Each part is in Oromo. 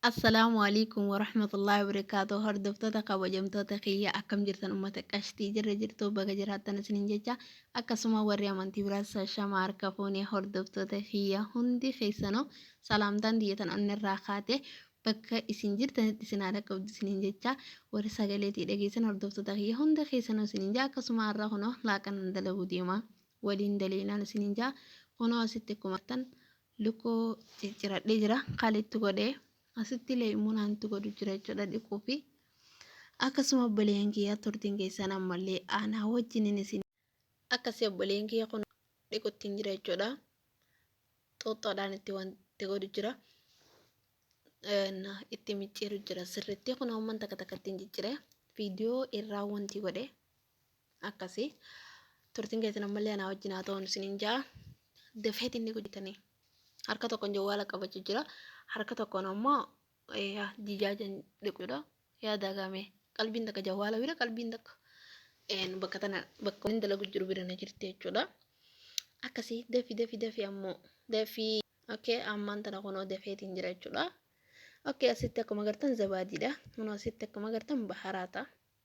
Assalaamu Alaikum Warahmatullahi Wabarakatuh Hordoftoota kabajamtoota kiyya akkam jirtan ummata qashtii jirra jirtu baga jiraattan isinin jecha akkasuma warri amantii biraas shama harka fuune hordoftoota kiyya hundi keessanoo salaamtaan diyyatan onnirraa kaate bakka isin jirtanitti isin haadha qabdu isinin jecha warri sagaleetii dhageessan hordoftoota kiyya hunda keessanoo isinin jaa akkasuma har'a kunoo laaqanan dalaguu deema waliin daleeynaan isinin jaa kunoo asitti kumartan lukkuu cicciradhee jira kaali itti godhee asitti illee immoo naan itti godhu jira jechuudha dhiquu fi akkasuma obboleeyyan kiyyaa turtiin keessan ammallee aanaa wajjinin isin akkasii obboleeyyan kiyya kun dhiquttiin jira jechuudha xuuxxoodhaan itti wanti godhu jira itti micciiru jira sirriitti kun hoomman takka takka ittiin ciccire viidiyoo irraa wanti godhe akkasi turtiin keessan ammallee anaa wajjin haa ta'uun isiniin ja'a dafeet inni gudditanii harka tokkoon jawwaala qabachuu jira harka tokkoon ammoo jijaajan dhiquudha yaa daagame qalbiin takka jawwaala bira qalbiin takka bakka tana bakka inni dalagu jiru bira na jirti jechuudha akkasi dafi dafi dafi ammoo dafi okay ammaan tana kunoo dafeetiin jira jechuudha okay asitti akkuma gartan zabaadiidha kunoo asitti akkuma gartan baharaata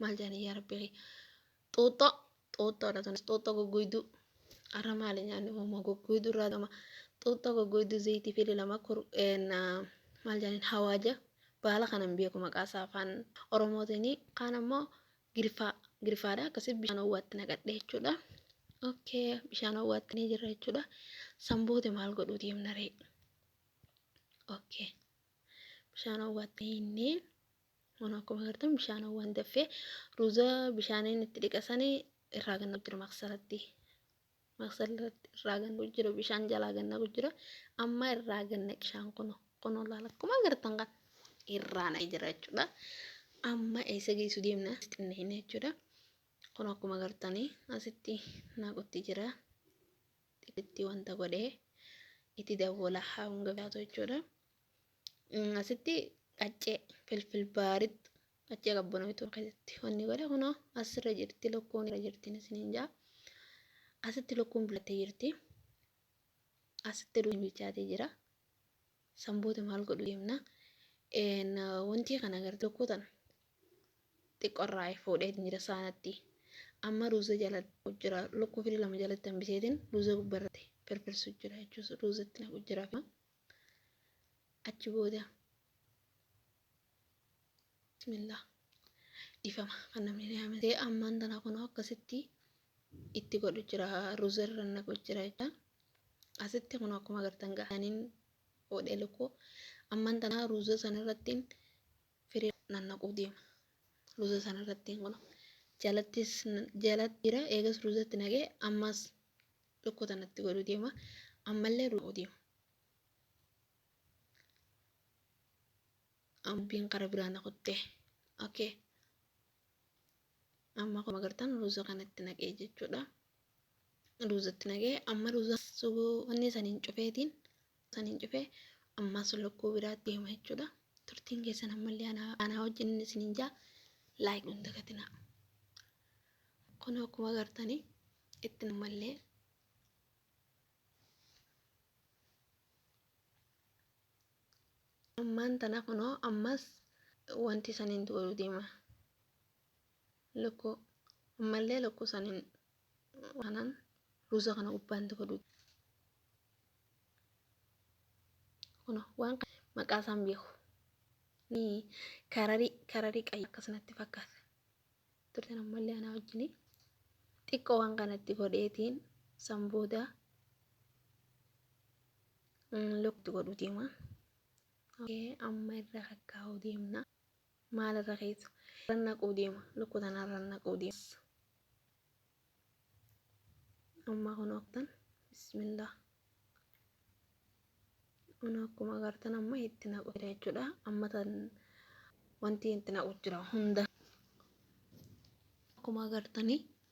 maal jedhanii yaa rabbi kee xuuxxoo xuuxxoodha tunis xuuxxoo goggoyduu arra maali nyaanni uumaa goggoyduu irraa gama xuuxxoo goggoyduu zayitii fi lama kur maal jedhaniin hawaaja baala kanan beeku maqaasaa afaan oromootiin kaan ammoo girfaa girfaadha akkasii bishaan owwaatti naqadhe jechuudha okay bishaan owwaatti ni jirra jechuudha sanboote maal godhuu deemna ree okay bishaan owwaatti hinnee Kun akkuma agartan bishaanawwan daffee ruuza bishaaniin itti dhiqasanii irraa ganna jiru maqsaratti. Maqsaratti irraa ganna jiru bishaan jalaa ganna jira. Amma irraa ganna bishaan kun kun olaal akkuma agartan kan irraa na jira jechuudha. Amma eessa geessu deemna xinna hin jechuudha. Kun akkuma agartanii asitti naaqutti jira. Xixitti wanta godhee itti dawwala hanga gaatu jechuudha. asitti qaccee filfil baaritti qaccee qabbanooytuu keessatti wanni godhe kunoo asirra jirti lukkuun irra jirti isiniin jaa asitti lukkuun bilattee jirti asitti duun bilchaatee jira sanboota maal godhu deemna wanti kana agartu lukkuu tana xiqqorraa fuudhee jira saanatti amma ruuza jalatti jira lukkuu firii lama jalatti hambiseetiin ruuza gubbarratti firfirsu jira jechuus ruuzatti naqu jira achi booda bismillah dhifama kan namni na yaamate ammaan tana kunoo akkasitti itti godhu jira ruzerra naqu jira jecha asitti kunoo akkuma agartan ga'aniin oodhee lukkuu ammaan tana ruuza sanarrattiin firii nannaquu deema ruuza sanarrattiin kunoo jalattis jalatti jira eegas ruuzatti naqee ammas tokko tanatti godhu deema ammallee ruuku deema ambiin qara biraa na kutte okay amma akkuma agartan ruuza kanatti naqee jechuudha ruuzatti naqee amma ruuza wanni saniin cufeetiin saniin cufee ammaas lokkuu biraatti deema jechuudha. Turtiin keessan ammallee anaa anaa wajjin isiniin jaa laayik hin dagatinaa. Kun akkuma agartanii itti ammallee ammaan tana kunoo ammas wanti saniin godhu deema. Lokkuu ammallee lokkuu saniin Kanaan ruuza kana gubbaan tokko duuba. Kun waan maqaa isaan beeku. Ni kararii kararii qayya akkasumatti fakkaata. Turtan ammallee anaa wajjin xiqqoo waan kanatti godheetiin san booda lukti godhu deema. Amma irra kakkaa'uu deemna. Maal irra keessa. Irra naquu deema. Lukku tana irra naquu deema. Amma kun oktan. Bismillah. Kun akkuma agartan amma itti naqu jira jechuudha. Amma tan wanti itti naqu jira hunda. Akkuma agartanii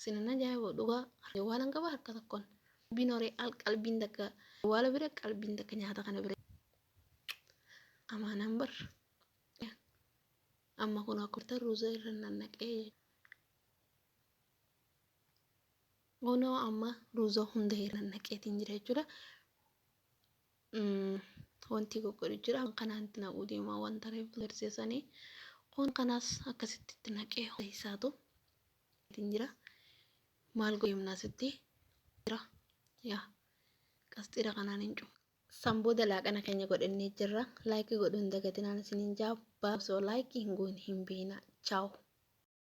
Sinan ajaa'iboo dhugaa awwaalan qaba harka tokkoon qalbiin horee al qalbiin takka awwaala bira qalbiin takka nyaata kana bira amaanaan bar amma kun akkurta ruuza irra nannaqee kunoo amma ruuza hunda irra nannaqeetiin jira jechuudha. wanti goggodhu jira kanaan itti naquu deema waan tareef garsiisanii kun kanaas akkasitti itti naqee ho'isaatu ittiin jira maal godeemnaa sitti jira yaa qasxiira kanaan hin cufu san booda laaqana keenya godhannee jirra laayikii godhuun dagatinaan isiniin jaa baasoo laayikii hin goone hin beekna chaawu.